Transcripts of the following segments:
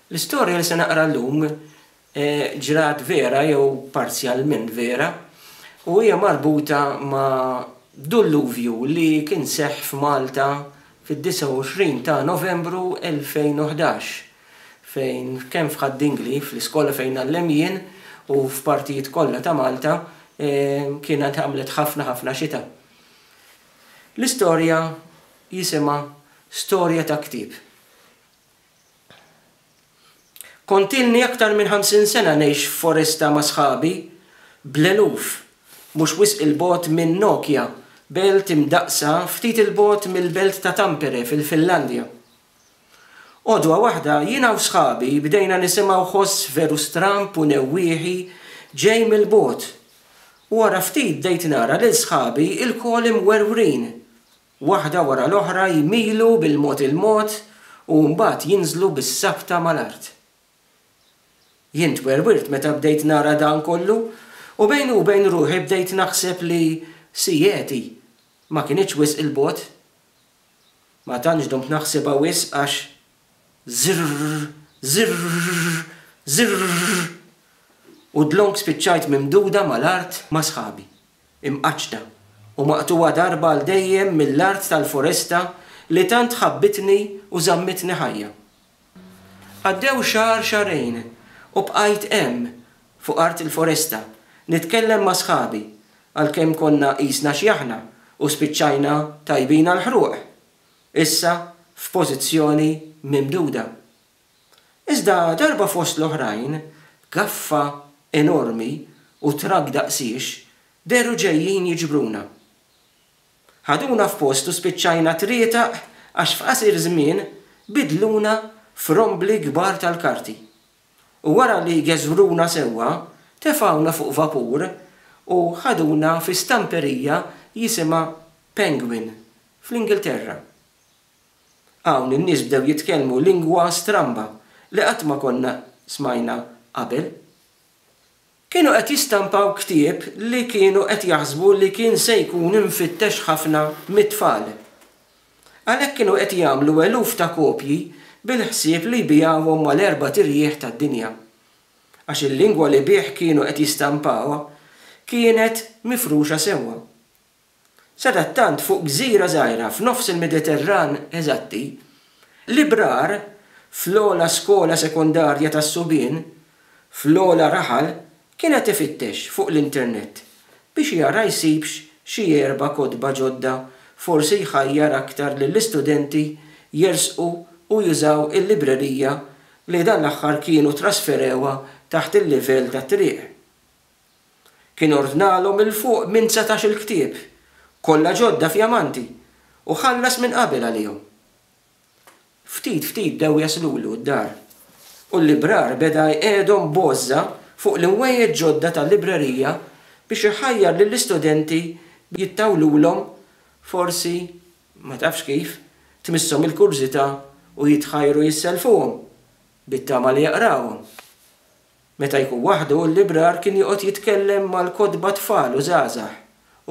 L-istorja li se naqra llum ġrat vera jew parzjalment vera u hija marbuta ma' dulluvju li kien seħħ f'Malta fid-29 ta' Novembru 2011 fejn kemm f'Ħad-Dingli, fl-iskola fejn ngħallem jien, u f'partijiet kollha ta' Malta kienet għamlet ħafna ħafna xita. L-istorja jisimha Storja ta' Ktieb. Kont ilni aktar minn ħamsin sena ngħix f'foresta ma' sħabi, bl-eluf, mhux wisq 'il bogħod minn Nokia, belt imdaqqsa ftit 'il bogħod mill-belt ta' Tampere, fil-Finlandja. Għodwa waħda, jiena u sħabi bdejna nisimgħu ħoss veru stramb u newwieħi ġej mill-bogħod. Wara ftit bdejt nara lil sħabi ilkoll imwerwrin, waħda wara l-oħra jmilu bil-mod il-mod u mbagħad jinżlu bis-sabta mal-art. Jien twerwirt meta bdejt nara dan kollu u bejni u bejn ruħi bdejt naħseb li Sieti ma kinitx wisq 'il bogħod. Ma tantx dumt naħsibha wisq għax zirrrr, zirrrr, zirrrr u dlonk spiċċajt mimduda mal-art ma' sħabi, imqaċċta u maqtugħa darba għal dejjem mill-art tal-foresta li tant ħabbitni u żammitni ħajja. Għaddew xahar xahrejn u bqajt hemm fuq art il-foresta nitkellem ma' sħabi għalkemm konna qisna xjaħna u spiċċajna tajbin għall-ħruq, issa f'pożizzjoni mimduda. Iżda darba fost l-oħrajn gaffa enormi u trakk daqsiex dehru ġejjin jiġbruna. Ħaduna f'post u spiċċajna trietaq għax f'qasir żmien bidluna f'rombli kbar tal-karti. U wara li geżwruna sewwa, tefgħuna fuq vapur u ħaduna fi stamperija jisimha Penguin, fl-Ingilterra. Hawn in-nies bdew jitkellmu lingwa stramba li qatt ma konna smajna qabel. Kienu qed jistampaw ktieb li kienu qed jaħsbu li kien se jkun imfittex ħafna mit-tfal. Għalhekk kienu qed jagħmlu eluf ta' kopji bil-ħsieb li jbigħuhom mal-erbat irjieħ tad-dinja. Għax il-lingwa li bih kienu qed jistampawha kienet mifruxa sewwa. Sadattant fuq gżira żgħira f'nofs il-Mediterran eżatti, l-ibrar fl-ogħla skola sekondarja tas-subien fl-ogħla raħal kien qed ifittex fuq l-internet biex jara jsibx xi erba' kotba ġodda forsi jħajjar aktar lill-istudenti jersqu u jużaw il-librerija li dan l-aħħar kienu trasferewha taħt il-livell tat-triq. Kien ordnalhom 'il fuq minn setax-il ktieb, kollha ġodda fjamanti, u ħallas minn qabel għalihom. Ftit ftit bdew jaslulu d-dar, u l-librar beda jqiegħedhom b'għożża fuq l-inwejjed ġodda tal-librerija biex iħajjar lill-istudenti jittawlulhom, forsi, ma tafx kif, tmisshom il-kurżità u jitħajru jisselfuhom, bit-tama li jaqrawhom. Meta jkun waħdu, l-librar kien joqgħod jitkellem mal-kotba tfal u żgħażagħ,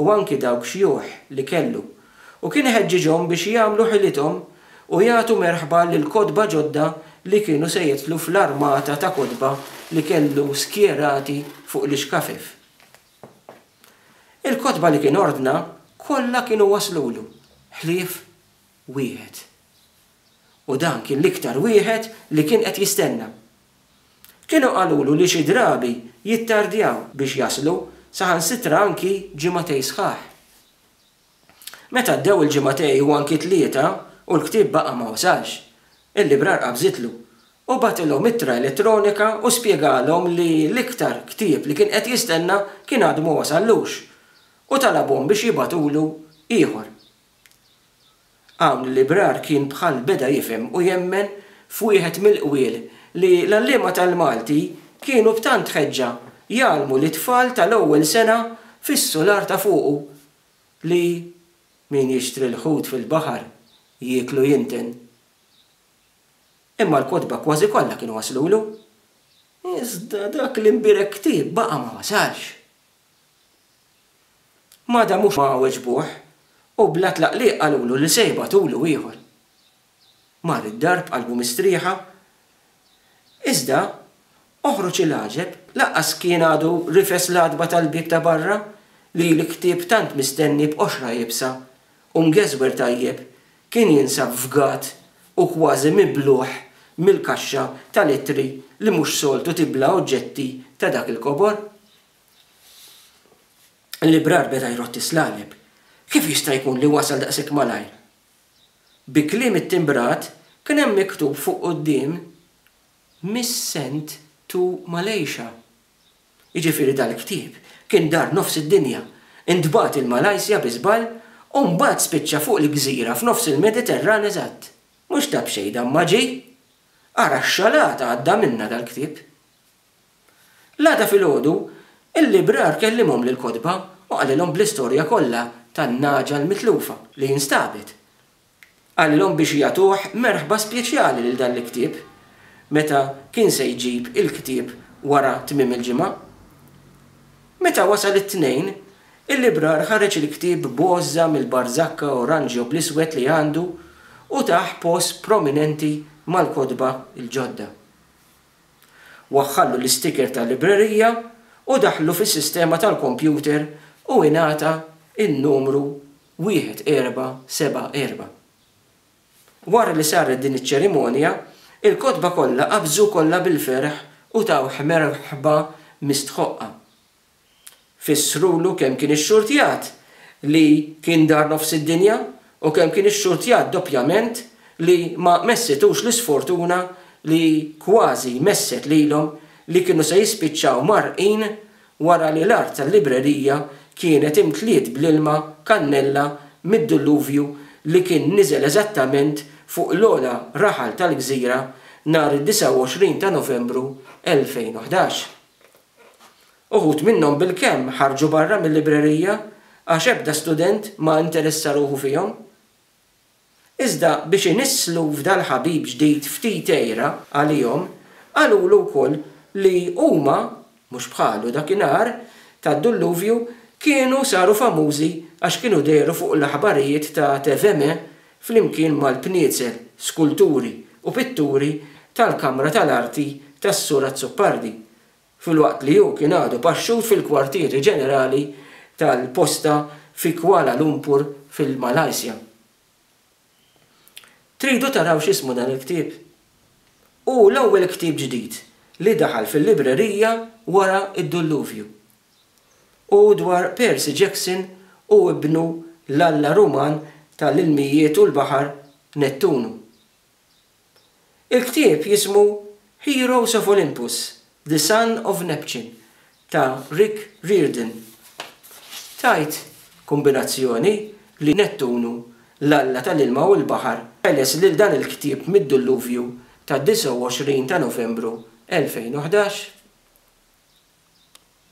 u anki dawk xjuħ li kellu, u kien iħeġġiġhom biex jagħmlu ħilithom u jagħtu merħba lill-kotba ġodda li kienu se jidħlu fl-armata ta' kotba li kellu skjerati fuq l-ixkafef. Il-kotba li kien ordna kollha kienu waslulu, ħlief wieħed. U dan kien l-iktar wieħed li kien qed jistenna. Kienu qalulu li xi drabi jittardjaw biex jaslu, saħansitra anki ġimgħatej sħaħ. Meta għaddew il-ġimgħatej u anki tlieta u l-ktieb baqa' ma wasalx, il-librar qabżitlu u bagħtilhom ittra elettronika u spjegalhom li l-iktar ktieb li kien qed jistenna kien għadu ma wasallux u talabhom biex jibagħtulu ieħor. Hawn l-librar kien bħal beda jifhem u jemmen f'wieħed mill-qwiel li l-għalliema tal-Malti kienu b'tant ħeġġa jgħallmu lit-tfal tal-ewwel sena fis-sular ta' fuqu li min jixtri l-ħut fil-baħar jieklu jinten. Imma l-kotba kważi kollha kienu waslulu. Iżda dak l-imbierek ktieb baqa' ma wasalx. Ma damux ma weġbuh u bla tlaqliq qalulu li se jibagħtulu ieħor. Mar id-dar b'qalbu mistrieħa. Iżda, oħroġ il-għaġeb, lanqas kien għadu rifes l-għatba tal-bieb ta' barra li l-ktieb tant mistenni b'qoxra iebsa u mgeżwer tajjeb kien jinsab fgat u kważi mibluħ mill-kaxxa tal-ittri li mhux soltu tibla oġġetti ta' dak il-kobor. L-ibrar beda jrotti s-slaleb. Kif jista' jkun li wasal daqshekk malajr? Bi kliem ittimbrat kien hemm miktub fuq quddiem Miss Sent to Malaysia. Jiġifieri dal-ktieb kien dar nofs id-dinja, intbagħat il-Malaysia bi żball u mbagħad spiċċa fuq l-gżira f'nofs il-Mediterran eżatt. Mhux ta' b'xejn dan ma ġie! Ara x-xalata għadda minnha dal-ktieb. L-għada filgħodu, il-librar kellimhom lill-kotba u qalilhom bl-istorja kollha tan-nagħġa l-mitlufa li instabet. Qalilhom biex jagħtuh merħba speċjali lil dan l-ktieb meta kien se jġib il-ktieb wara tmiem il-ġimgħa. Meta wasal it-Tnejn, il-librar ħareġ il-ktieb b'għożża mill-barżakka oranġjo bl-iswed li għandu u tah post prominenti mal-kotba l-ġodda. Waħħallu l-istiker tal-librerija u daħħlu fis-sistema tal-kompjuter u ingħata n-numru 1474. Wara li saret din iċ-ċerimonja, il-kotba kollha qabżu kollha bil-ferħ u tawh merħba mistħoqqa. Fissrulu kemm kien ixxurtjat li kien dar nofs id-dinja u kemm kien ixxurtjat doppjament li ma messitux l-isfortuna li kważi messet lilhom li kienu se jispiċċaw mgħarrqin wara li l-art tal-librerija kienet imtliet bl-ilma kannella mid-dilluvju li kien niżel eżattament fuq l-ogħla raħal tal-gżira nhar id-29 ta' Novembru 2011. Uħud minnhom bilkemm ħarġu barra mil-librerija għax ebda student ma interessa ruħu fihom. Iżda biex inisslu f'dal-ħabib ġdid ftit għira għalihom, qalulu wkoll li huma, mhux bħalu dakinhar tad-dulluvju, kienu saru famużi għax kienu dehru fuq l-aħbarijiet ta' TVM flimkien mal-bniezel, skulturi u pitturi tal-Kamra tal-Arti tas-Sur Azzopardi. filwaqt li hu kien għadu paxxut fil-kwartieri ġenerali tal-posta fi Kuala Lumpur fil-Malaysia. Tridu taraw x'ismu dan il-ktieb? Hu l-ewwel ktieb ġdid li daħal fil-librerija wara d-dulluvju. Hu dwar Percy Jackson u ibnu l-alla Ruman tal-ilmijiet u l-baħar Nettunu. Il-ktieb jismu Heroes of Olympus, The Son of Neptune ta' Rick Riordan. Tgħid kombinazzjoni li Nettunu, l-alla tal-ilma u l-baħar, qeles lil dan il-ktieb mid-dulluvju tad-29 ta' Novembru 2011?